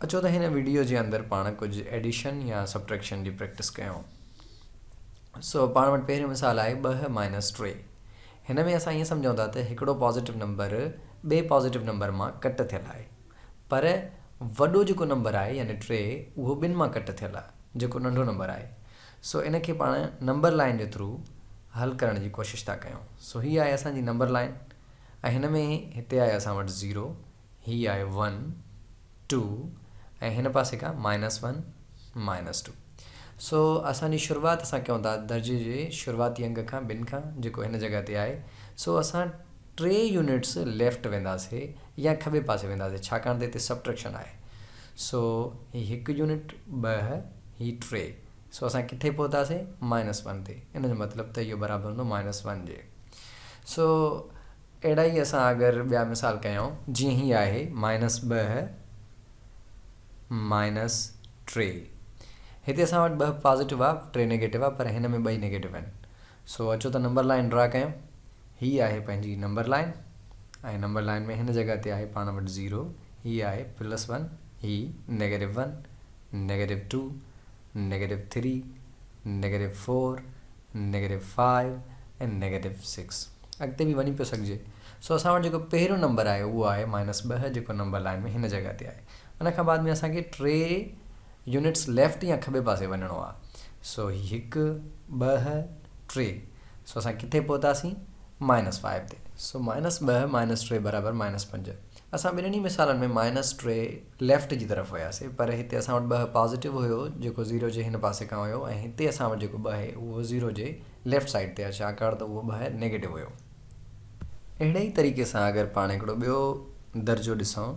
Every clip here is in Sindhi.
اچو ته هن وڊيو جي اندر پاڻ ڪجهه ايڊيشن يا سبٽريڪشن جي پريڪٽس ڪيون. سو پاڻ وٽ پهريون مثال آهي ٻه مائنس ٽي. هن ۾ اسان ائين سمجهون ٿا ته هڪڙو پازيٽو نمبر ٻئي پازيٽو نمبر مان ڪٽ ٿيل آهي. پر وڏو جيڪو نمبر آهي يعني ٽي اهو ٻن مان ڪٽ ٿيل آهي جيڪو ننڍو نمبر آهي. سو ان کي پاڻ نمبر لائين جي ٿرو حل ڪرڻ جي ڪوشش ٿا ڪيون. سو هي آهي اسان جي نمبر لائين ۽ هن ۾ هتي آهي اسان وٽ زيرو. هي آهي ون ٽو ۽ هن پاسي کان مائنس ون مائنس ٽو سو اسان جي شروعات اسان ڪيون ٿا درجي جي شروعاتي انگ کان ٻن کان جيڪو هن جڳهه تي آهي سو اسان ٽي يونٽس ليفٽ وينداسي يا کٻي پاسي وينداسي ڇاڪاڻ ته هتي سبٽريڪشن آهي سو هي هڪ يونٽ ٻه هي ٽي سو اسان ڪٿي پهتاسي مائنس ون تي ان جو مطلب ته اهو برابر هوندو مائنس ون جي سو اهڙا ئي اسان اگر ٻيا مثال ڪيائون، جيئن هي آهي، مائنس ٻه مائنس ٽي. هتي اسان وٽ ٻه پازيٽو آ، ٽي نيگيٽو آ، پر هن ۾ ٻئي نيگيٽو آهن. سو اچو ته نمبر لائين ڊرا ڪيون. هي آهي پنهنجي نمبر لائين ۽ نمبر لائين ۾ هن جڳهه تي آهي پاڻ وٽ زيرو. هي آهي پلس ون، هي negative one, negative two, negative three, negative four, negative five ۽ negative six. اڳتي به وڃي پيو سگهجي. سو اسان وٽ جيڪو پهريون نمبر آهي اهو آهي مائنس ٻه جيڪو نمبر لائين ۾ هن جڳهه تي آهي. ان کان بعد ۾ اسان کي ٽي يونٽس ليفٽ يا کٻي پاسي وڃڻو آهي. سو هي هڪ، ٻه، ٽي. سو اسان ڪٿي پهتاسين؟ مائنس فائيو تي. سو مائنس ٻه مائنس ٽي برابر مائنس پنج. اسان ٻنهن ئي مثالن ۾ مائنس ٽي ليفٽ جي طرف وياسي پر هتي اسان وٽ ٻه پازيٽو هيو جيڪو زيرو جي هن پاسي کان هيو ۽ هتي اسان وٽ جيڪو ٻه آهي اهو زيرو جي ليفٽ سائيڊ تي آهي ڇاڪاڻ ته اهو ٻاهر نيگيٽو هيو اهڙي ئي طريقي سان اگر پاڻ هڪڙو ٻيو درجو ڏسون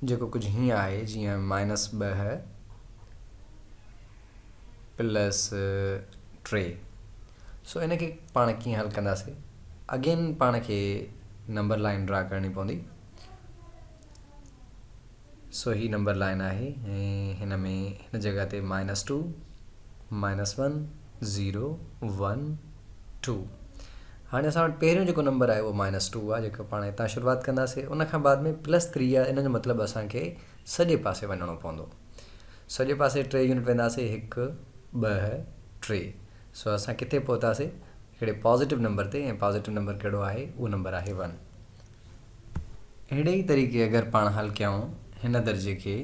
جيڪو ڪجهه هيئن آهي جيئن مائنس ٻه پلس ٽي سو ان کي پاڻ ڪيئن حل ڪنداسي اگين پاڻ کي نمبر لائن ڊرا ڪرڻي پوندي سو هي نمبر لائين آهي ۽ هن ۾ هن جڳهه تي minus two minus one zero one two هاڻي اسان وٽ پهريون جيڪو نمبر آهي اهو مائنس ٽو آهي جيڪو پاڻ هتان شروعات ڪنداسي ان کان بعد ۾ پلس ٿري آهي ان جو مطلب اسانکي سڄي پاسي وڃڻو پوندو سڄي پاسي ٽي يونٽ وينداسي هڪ ٻه ٽي سو اسان ڪٿي پهتاسي هڪڙي پازيٽو نمبر تي ۽ پازيٽو نمبر ڪهڙو آهي اهو نمبر آهي ون اهڙي ئي طريقي اگر پاڻ حل ڪيائون هن درجي کي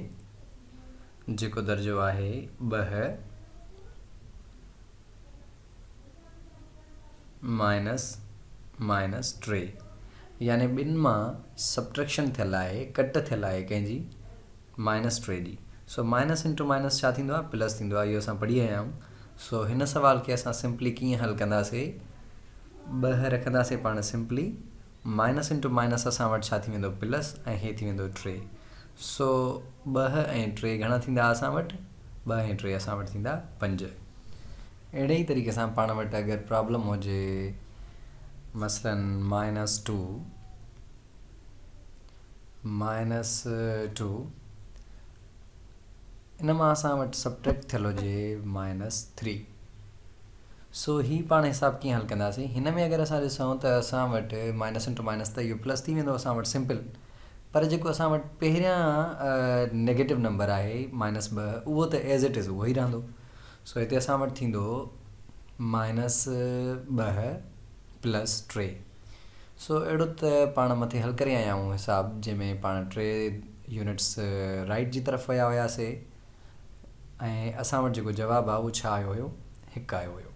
جيڪو درجو آهي ٻه مائنس مائنس ٽي يعني ٻن مان سبٽريڪشن ٿيل آهي ڪٽ ٿيل آهي ڪنهن جي مائنس ٽي ڊي سو مائنس انٽو مائنس ڇا ٿيندو آهي پلس ٿيندو آهي اهو اسان پڙهي آيا آهيون سو هن سوال کي اسان سمپلي ڪيئن حل ڪنداسي ٻه رکنداسي پاڻ سمپلي مائنس انٽو مائنس اسان وٽ ڇا ٿي ويندو پلس ۽ هي ٿي ويندو ٽي سو ٻه ۽ ٽي گهڻا ٿيندا اسان وٽ ٻه ۽ ٽي اسان وٽ ٿيندا پنج اهڙي ئي طريقي سان پاڻ وٽ اگر پرابلم هجي مثلا مائنس ٽو مائنس ٽو، ان مان اسان وٽ سبٽريڪٽ ٿيل هجي مائنس ٿري. سو هي پاڻ حساب ڪيئن حل ڪنداسين؟ هن ۾ اگر اسان ڏسون ته اسان وٽ مائنس انٽو مائنس ته اهو پلس ٿي ويندو اسان وٽ سمپل. پر جيڪو اسان وٽ پهريان نيگيٽو نمبر آهي مائنس ٻه اهو ته ايز اٽ از اهو ئي رهندو. سو هتي اسان وٽ ٿيندو مائنس ٻه پلس ٽي. سو اهڙو ته پاڻ مٿي حل ڪري آيا آهيون حساب جنهن ۾ پاڻ ٽي يونٽس رائيٽ جي طرف ويا هياسي ۽ اسان وٽ جيڪو جواب آهي اهو ڇا آيو هيو هڪ آيو هيو.